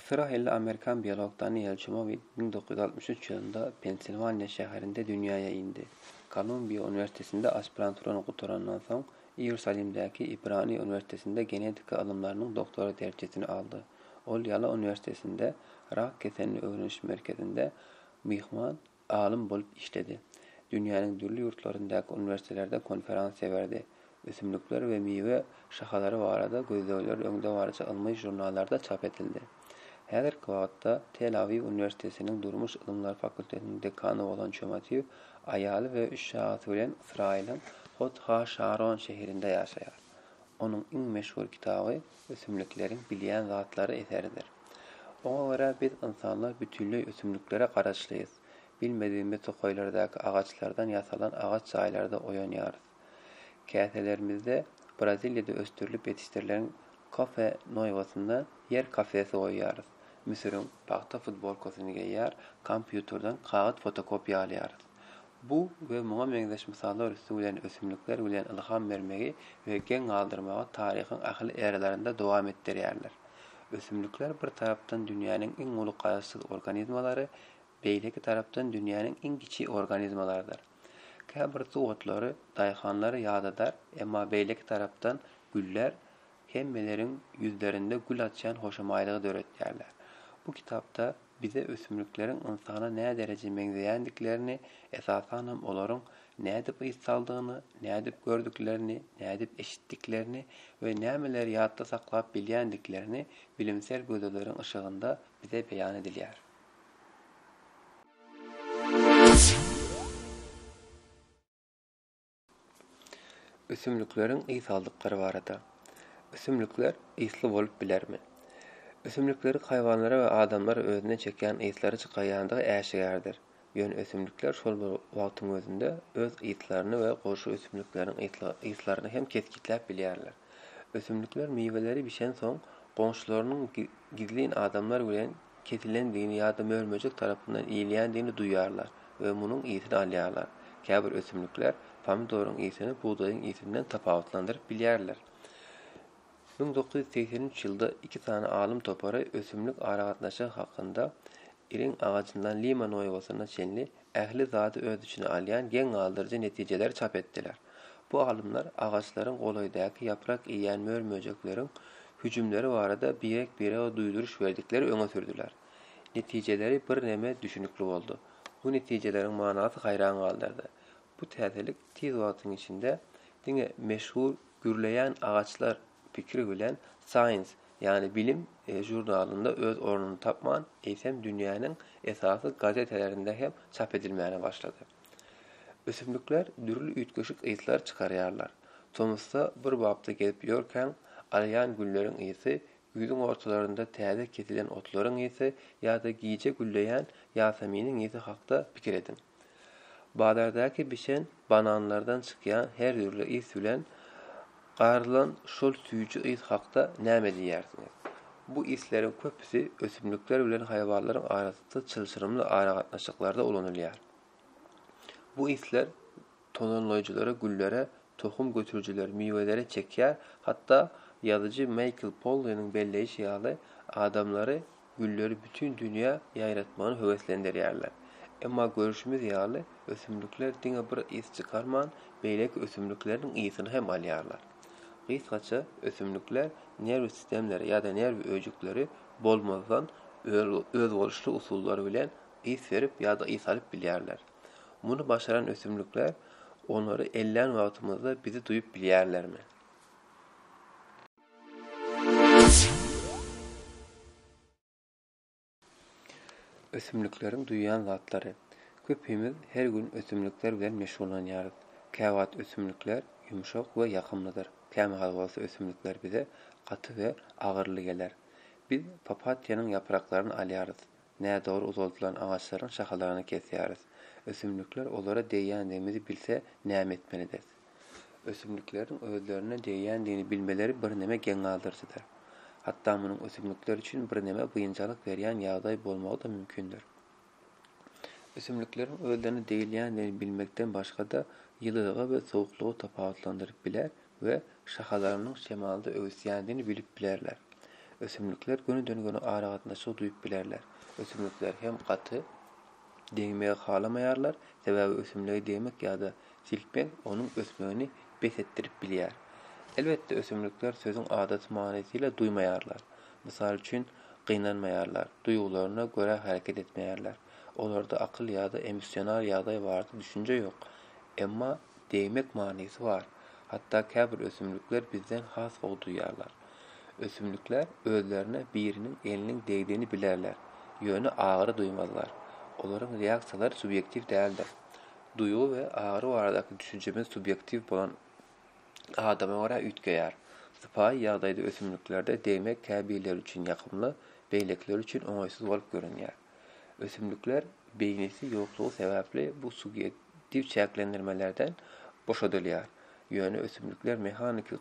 Ysraýylly amerikan biolog Daniel Çumowi müň dokuz ýüz altmyş üç ýylynda Pensilwaniýa şäherinde dünýäýe indi. Kolumbiýa uniwersitetinde aspiranturany gutarandan soň, Iýerusalimdäki Ibrani uniwersitetinde genetika ylymlarynyň doktory derejesini aldy. Ol Ýala uniwersitetinde Rak keselini öwreniş merkezinde myhman Alym bolup işledi. Dünýäniň dürli ýurtlaryndaky uniwersitelerde konferensiýa berdi. Ösümlikler we miwe şahalary barada gözlegleri öňdebaryjy ylmy žurnallarda çap edildi. Häzirki wagtda Tel-Awiw uniwersitetiniň durmuş ylymlary fakultetiniň dekany bolan Çömatiw aýaly we üç çagasy bilen Ysraýylyň Hod-ha-Şaron şeherinde ýaşaýar. Onuň iň meşhur kitaby Ösümlikleriň bilýän zatlary eseridir. Oňa görä biz ynsanlar bütinleý ösümliklere garaşlyýys. Bilmedigimiz tokaýlardaky agaçlardan ýasalan agaç jaýlarda oýanýarys. Käselerimizde Braziliýada ösdürilip ýetişdirilen kafe noýbasynda ýer kafesi goýýarys. Müsüriň pagta futbolkasyny geýýär, kompýuterden kagyz fotokopiýa alýarys. Bu we muňa meňzeş mysallar üsti bilen ösümlikler bilen ylham bermegi we geň galdyrmagy taryhyň ähli eralarynda dowam etdirýärler. Ösümlikler bir tarapdan dünýäniň iň uly garaşsyz organizmalary, beýleki tarapdan dünýäniň iň kiçi organizmalarydyr. Käbir suw otlary daýhanlary ýadadar, emma beýleki tarapdan güller hemmeleriň ýüzlerinde gül açýan hoşamaýlygy döretýärler. Bu kitapda Bize ösümlikleriň ynsana nädereje meňzeýändiklerini, esasanam olaryň nädip ys saldygyny, nädip gördüklerini, nädip eşitdiklerini we nämeleri ýatda saklap bilýändiklerini bilimsel gözelleriň yşygynda bize beýan edilýär. Ösümlikleriň ys aldyklary barada. Ösümlikler ysly bolup bilermi? Ösümlikleri haýwanlar we adamlar özüne çekýän yslary çykarýandygy äşgärdir. Ýöne ösümlikler şol bir wagtyň özünde öz yslaryny we goşa ösümlikleriň yslaryny hem kesgitläp bilýärler. Ösümlikler miweleri bişensoň, goňşularynyň gizlin adamlar bilen kesilendigini ýa-da mör-möjek tarapyndan iýilýändigini duýýarlar we munuň ysy-ny alýarlar. Käbir ösümlikler pomidoryň ysyny bugdaýyň ysyny-dan tapawutlandyryp bilýärler. Müň dokuz ýüz segsen üç ýylda iki sany alym topary ösümlik aragatnaşygy hakynda Iriň agajyndan Lima Nuewasyna çenli ähli zady öz içine alýan geň galdyryjy netijeleri çap etdiler. Bu alymlar agaçlaryň golaýdaky ýaprak iýýän mör-möjekleriň hüjümleri barada birek-birege duýduryş berdikleri öňe sürdüler. Netijeleri birneme düşünikli boldy. Bu netijeleriň manasy haýran galdyrdy. Bu täzelik tiz wagtyň içinde diňe meşhur gürleýän agaçlar pikiri bilen Science, ýagny Bilim žurnalynda öz ornuny tapman, eýsem dünýäniň esasy gazetelerinde hem çap edilmäne başlady. Ösümlikler dürli üýtgeşik yslar çykarýarlar. Tomusda bir bapda gezip ýörkäň, alýan gülleriň ysy, güýzüň ortalarynda täze kesilen otlaryň ysy ýa-da gije gülleýän ýaseminiň ysy hakda pikir ediň. Bazardaky bişen bananlardan çykýan her dürli ys bilen garylan şol süýji ys hakda näme diýýärsiňiz? Bu ysleriň köpüsi ösümlikler bilen haýwanlaryň arasynda çylşyrymly aragatnaşyklarda ulanylýar. Bu yslar tohumlaýjylary güllere, tohum götürijileri miwelere çekýär, hatda ýazyjy Maýkl Polliniň belleýşi ýaly, adamlary gülleri bütin dünýä ýaýratmagyna höweslendirýärler. Emma görüşimiz ýaly, ösümlikler diňe bir ys çykarman, beýleki ösümlikleriň ysyny hem alýarlar. Gysgaça, ösümlikler nerw sistemleri ýa-da nerw öýjükleri bolmazdan özboluşly usullar bilen ys berip ýa-da ys alyp bilýärler. Muny başaran ösümlikler onary ellän wagtymyzda bizi duýup bilýärlermi? Ösümlikleriň duýýan zatlary. Köpimiz her gün ösümlikler bilen meşgullanýarys. Käwagt ösümlikler ýumşak we ýakymlydyr, kämahal bolsa ösümlikler bize gaty we agyryly geler. Biz papatýanyň ýapraklaryny alýarys, Nädogry uzaldylan agaçlaryň şahalaryny kesýäris. Ösümlikler olara degýändigimizi bilse, näme etmelidiris? Ösümlikleriň özlerine degýändigini bilmeleri birneme geň galdyryjydyr. Hatda munuň ösümlikler üçin birneme biynjalyk berýän ýagdaý bolmagy-da mümkindir. Ösümlikleriň özlerine degilýändigini bilmekden başga-da, ýylylygy we sowuklygy tapawutlandyryp biler, we şahalarynyň şemalda öwüsýändigini bilip bilerler. Ösümlikler gönüden-göni aragatnaşygy duýup bilerler. Ösümlikler hem gaty degmegi halamaýarlar, sebäbi ösümligi degmek ýa-da silkmek onuň ösmegini bes etdirip bilýär. Elbetde, ösümlikler sözüň adaty manysyla duýmaýarlar. Mysal üçin, gynanmaýarlar, duýgularyna görä hereket etmeýärler. Olarda akyl ýa-da emosional ýagdaý barada düşünje ýok. Emma degmek manysy bar. Hatda käbir ösümlikler bizden has gowy duýýarlar. Ösümlikler özlerine biriniň eliniň degdigini bilerler, ýöne agyry duýmazlar. Olaryň reaksiýalary subýektiw däldir. Duýgy we agyry baradaky düşünjemiz subýektiw bolan adama görä üýtgeýär. Sypaýy ýagdaýda ösümliklerde degmek käbirleri üçin ýakymly, beýlekileri üçin oňaýsyz bolup görünýär. Ösümlikler beýnisi ýoklugy sebäpli bu subýektiw çäklendirmelerden boşadylýar, ýöne ösümlikler mehaniki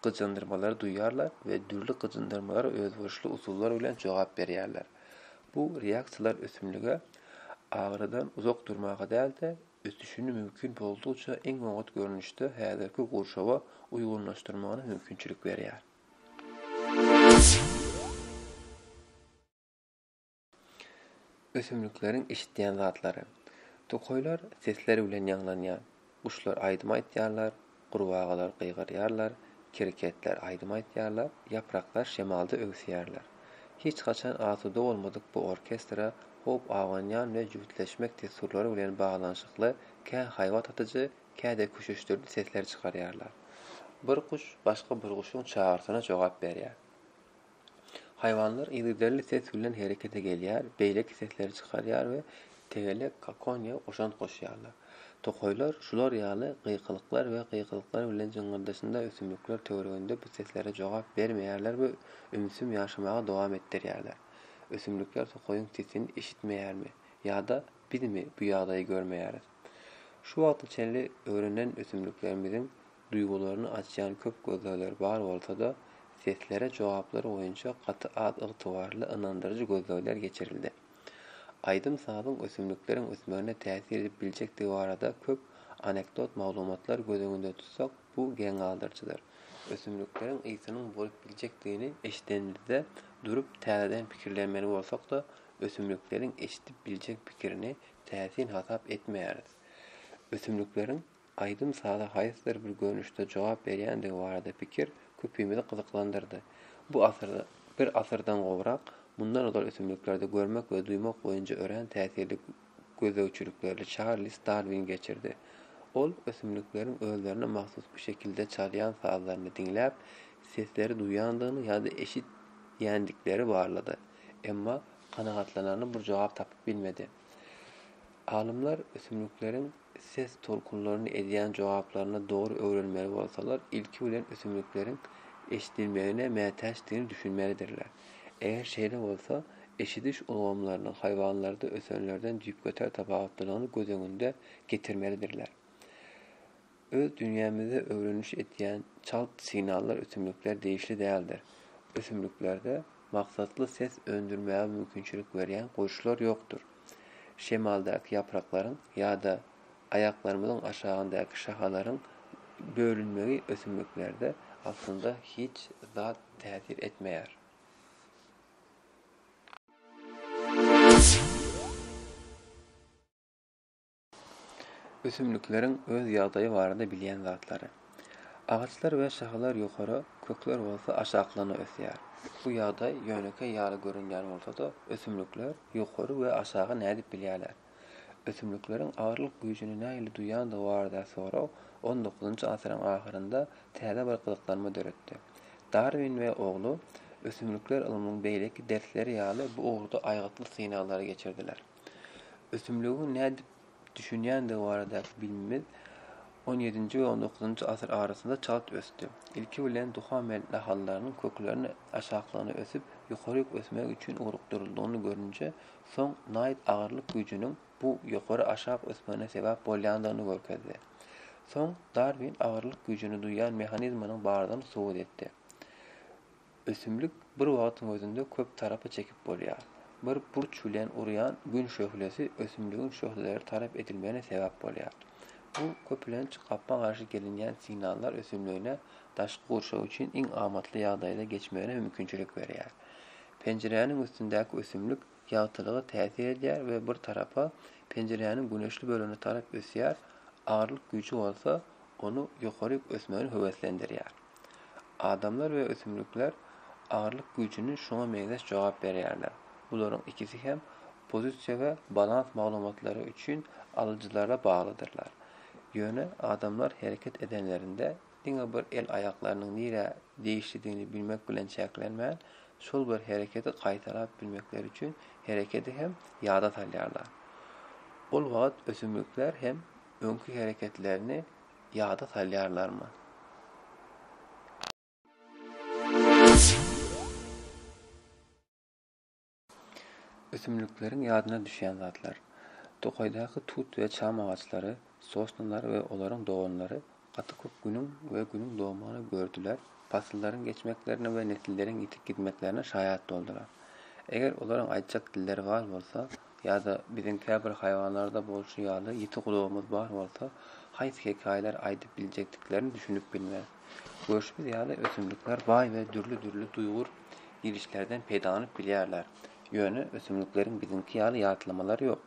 gyjyndyrmalary duýýarlar we dürli gyjyndyrmalara özboluşly usullar bilen jogap berýärler. Bu reaksiýalar ösümlige agyrydan uzak durmaga däl-de, ösüşini mümkin boldugyça iň oňat görnüşde häzirki gurşawa uýgunlaşdyrmagyna mümkinçilik berýär. Ösümlikleriň eşitýän zatlary. Tokaýlar sesler bilen ýaňlanýar. Guşlar aýdym aýtýarlar, gurbagalar gygyrýarlar, kerketler aýdym aýtýarlar, ýapraklar şemalda öwüsýärler. Hiç haçan asuda bolmadyk bu orkestra hop abanýan we jübütleşmek dessurlary bilen baglanyşykly kä haýbat atyjy, kä-de küşüşdiriji sesler çykarýarlar. Bir guş başga bir guşuň çagyrysyna jogap berýär. Haýwanlar yzygiderli ses bilen herekete gelýär, beýleki sesleri çykarýar we tegelek kakoniýa goşant goşýarlar. Tokaýlar şular ýaly gykylyklar we gykylyklar bilen jyňňyrdaşynda ösümlikler töwereginde bu seslere jogap bermeýärler we ümsüm ýaşamagy dowam etdirýärler. Ösümlikler tokaýyň sesini eşitmeýärmi ýa-da bizmi bu ýagdaýy görmeýäris? Şu wagta çenli öwrenen ösümliklerimiziň Duýgularyny açýan köp gözlegler bar bolsa-da, seslere jogaplar boýunça gaty az ygtybarly, ynandyryjy gözlegler geçirildi. Aýdym-sazyň ösümlikleriň ösmegine täsir edip biljekdigi barada köp anekdot maglumatlar göz öňünde tutsak, bu geň galdyryjydyr. Ösümlikleriň ysynyň bolup biljekdigini eşidenimizde durup täzeden pikirlenmeli bolsak-da, ösümlikleriň eşidip biljek pikirini täsin hasap etmeýäris. Ösümlikleriň Aýdym-saza haýsydyr bir görnüşde jogap berýändigi barada pikir köpimizi gyzyklandyrdy. Bu asyrda, bir asyrdan gowrak, mundan ozal ösümliklerde görmek we duýmak boýunça örän täsirli gözlegçilikleri Çarlz Darwin geçirdi. Ol ösümlikleriň özlerine mahsus bu şekilde çalýan sazlaryny diňläp, sesleri duýandygyny ýa-da eşidýändikleri barlady. Emma kanagatlanarly bir jogap tapyp bilmedi. Alymlar ösümlikleriň ses tolkunlaryny edýän jogaplaryny dogry öwrenmeli bolsalar, ilki bilen ösümlikleriň eşidilmegine mätäçdigini düşünmelidirler. Eger şeýle bolsa, eşidiş ulgamlarynyň haýwanlarda ösenlerden düýpgöter tapawutlylygyny göz öňünde getirmelidirler. Öz dünýämizde öwreniş etýän çalt signallar ösümlikler degişli däldir. Ösümliklerde maksatly ses öndürmäge mümkinçilik berýän goşlar ýokdur. Şemaldaky ýapraklaryň ýa-da aýaklarymyzyň aşagyndaky şahalaryň bölünmegi ösümliklerde aslynda hiç zat täsir etmeýär. Ösümlikleriň öz ýagdaýy barada bilýän zatlary. Agaçlar we şahalar ýokara, kökler bolsa aşaklaryna ösýär. Bu ýagdaý ýönekeý ýaly görünýän bolsa-da, ösümlikler ýokary we aşagy nädip bilýärler? Ösümlikleriň agyrlyk güýjüni nähili duýandygy barada sorag on dokuzynjy asyryň ahyrynda täze bir gyzyklanma döretdi. Darwin we ogly ösümlikler ylmynyň beýleki dersleri ýaly bu ugurda aýgytly synaglary geçirdiler. Ösümligiň nädip düşünýändigi baradaky bilimimiz on ýedinji we on dokuzynjy asyr arasynda çalt ösdi. Ilki bilen Duhamel nahallarynyň kökleriniň aşaklygyna ösüp, ýokaryk ösmegi üçin ugrukdyryldygyny görünje, soň naýt agyrlyk güýjüniň bu ýokary-aşak ösmegine sebäp bolýandygyny görkezdi. Soň Darwin agyrlyk güýjüni duýýan mehanizmanyň bardygyny subut etdi. Ösümlik bir wagtyň özünde köp tarapa çekip bolýar. Bir burç bilen urýan Gün şöhlesi ösümligiň şöhleleri tarap edilmegine sebäp bolýar. Bu köplenç gapma garşy gelinýän signallar ösümligine daşky gurşaw üçin iň amatly ýagdaýda geçmegine mümkinçilik berýär. Penjiräniň üstündäki ösümlik ýagtylyga täsir edýär we bir tarapa, penjiräniň güneşli bölegine tarap ösýär, agyrlyk güýji bolsa ony ýokaryk ösmegine höweslendirýär. Adamlar we ösümlikler agyrlyk güýjüni şuňa meňzeş jogap berýärler. Bularyň ikisi hem pozisiýa we balans maglumatlary üçin alyjylara baglydyrlar. Ýöne adamlar hereket edenlerinde diňe bir el-aýaklarynyň nirä degişlidigini bilmek bilen çäklenmän, şol bir hereketi gaýtalap bilmekleri üçin hereketi hem ýada salýarlar. Ol wagt ösümlikler hem öňki hereketlerini ýada salýarlarmy? Ösümlikleriň ýadyna düşýän zatlar. Tokaýdaky tut we çam agaçlary, sosnalar we olaryň doganlary gaty köp günüň we günüň dogmagyny gördüler, pasyllaryň geçmeklerine we nesilleriň ýitip gitmeklerine şaýat boldular. Eger olaryň aýtjak dilleri bar bolsa, Ýa-da biziň käbir haýwanlarda bolşy ýaly ýiti gulagymyz bar bolsa, haýsy hekaýalary aýdyp biljekdiklerini düşünip bilmeris. Görşümiz ýaly, ösümlikler baý we dürli-dürli duýgur gidişlerden peýdalanyp bilýärler. Ýöne ösümlikleriň biziňki ýaly ýatlamalary ýok.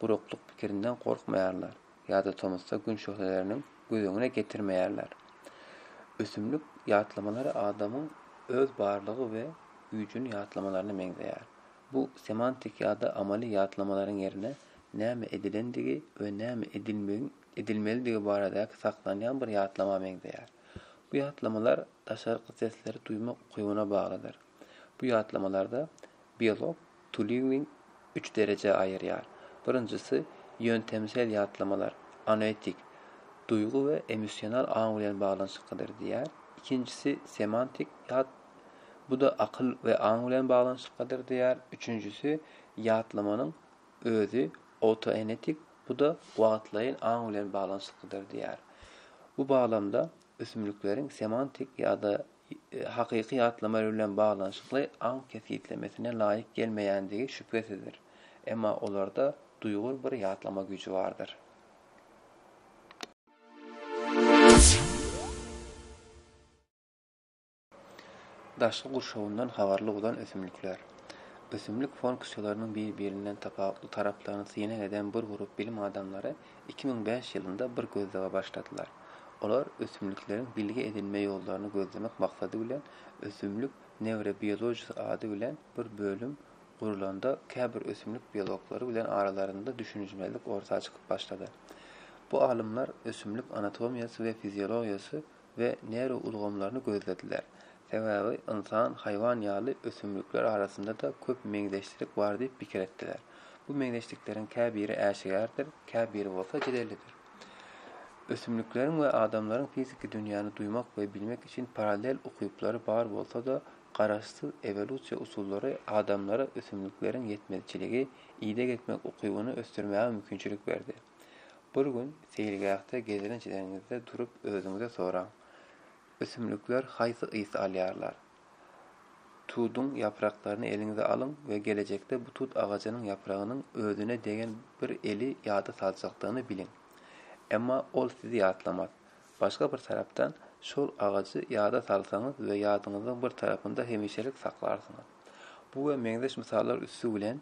Guraklyk pikirinden gorkmaýarlar ýa-da tomusda gün şöhleleriniň göz öňüne getirmeýärler. Ösümlik ýatlamalary adamyň öz barlygy we güýjüni ýatlamalaryna meňzeýär. Bu semantik ýa-da amaly ýatlamalaryň ýerine näme edilendigi we näme edilmegiň edilmelidigi baradaky saklanýan bir ýatlama meňzeýär. Bu ýatlamalar daşarky sesleri duýmak ukybyna baglydyr. Bu ýatlamalarda biolog Tuliwin üç derejä aýyrýar. Birinjisi, ýöntemsel ýatlamalar, anoetik, duýgy we emosional aň bilen baglanyşyklydyr diýýär. Ikinjisi, semantik ýat Bu-da akyl we aň bilen baglanyşyklydyr diýýär. Üçünjisi, ýatlamanyň özi autoenetik, bu-da wagtlaýyn aň bilen baglanyşyklydyr diýýär. Bu baglamda ösümlikleriň semantik ýa-da hakyky ýatlama bilen baglanyşykly aň kesgitlemesine laýyk gelmeýändigi şübhesizdir, emma olarda duýgur bir ýatlama güýji bardyr. Daşky gurşawyndan habarly bolan ösümlikler. Ösümlik funksiýalarynyň bir-birinden tapawutly taraplaryny synag eden bir grup bilim adamlary iki müň bäş ýylynda bir gözlege başladylar. Olar ösümlikleriň bilgi edinme ýollaryny gözlemek maksady bilen ösümlik newrobiologiyasy ady bilen bir bölüm gurlanda käbir ösümlik biologlary bilen aralarynda düşünişmezlik orta çykyp başlady. Bu alymlar ösümlik anatomiýasy we fiziologiýasy we nerw ulgamlaryny gözlediler. Sebäbi ynsan, haýwan ýaly ösümlikler arasynda-da köp meňzeşlik bar diýip pikir etdiler. Bu meňzeşlikleriň käbiri äşgärdir, käbiri bolsa jedellidir. Ösümlikleriň we adamlaryň fiziki dünýäni duýmak we bilmek üçin parallel ukyplary bar bolsa-da, garaşsyz ewolýusiýa usullary adamlara ösümlikleriň ýetmezçiligi, ideg etmek ukybyny ösdürmäge mümkinçilik berdi. Bir gün seýilgähde gezelenç edeniňizde durup özüňize soraň, Ösümlikler haýsy ys alýarlar? Tuduň ýapraklaryny eliňize alyň we gelejekde bu tut agajynyň ýapragynyň özüne degen bir eli ýada saljakdygyny biliň. Emma ol sizi ýatlamaz. Başga bir tarapdan, şol agajy ýada salsaňyz we ýadyňyzyň bir tarapynda hemişelik saklarsyňyz. Bu we meňzeş mysallar üsti bilen,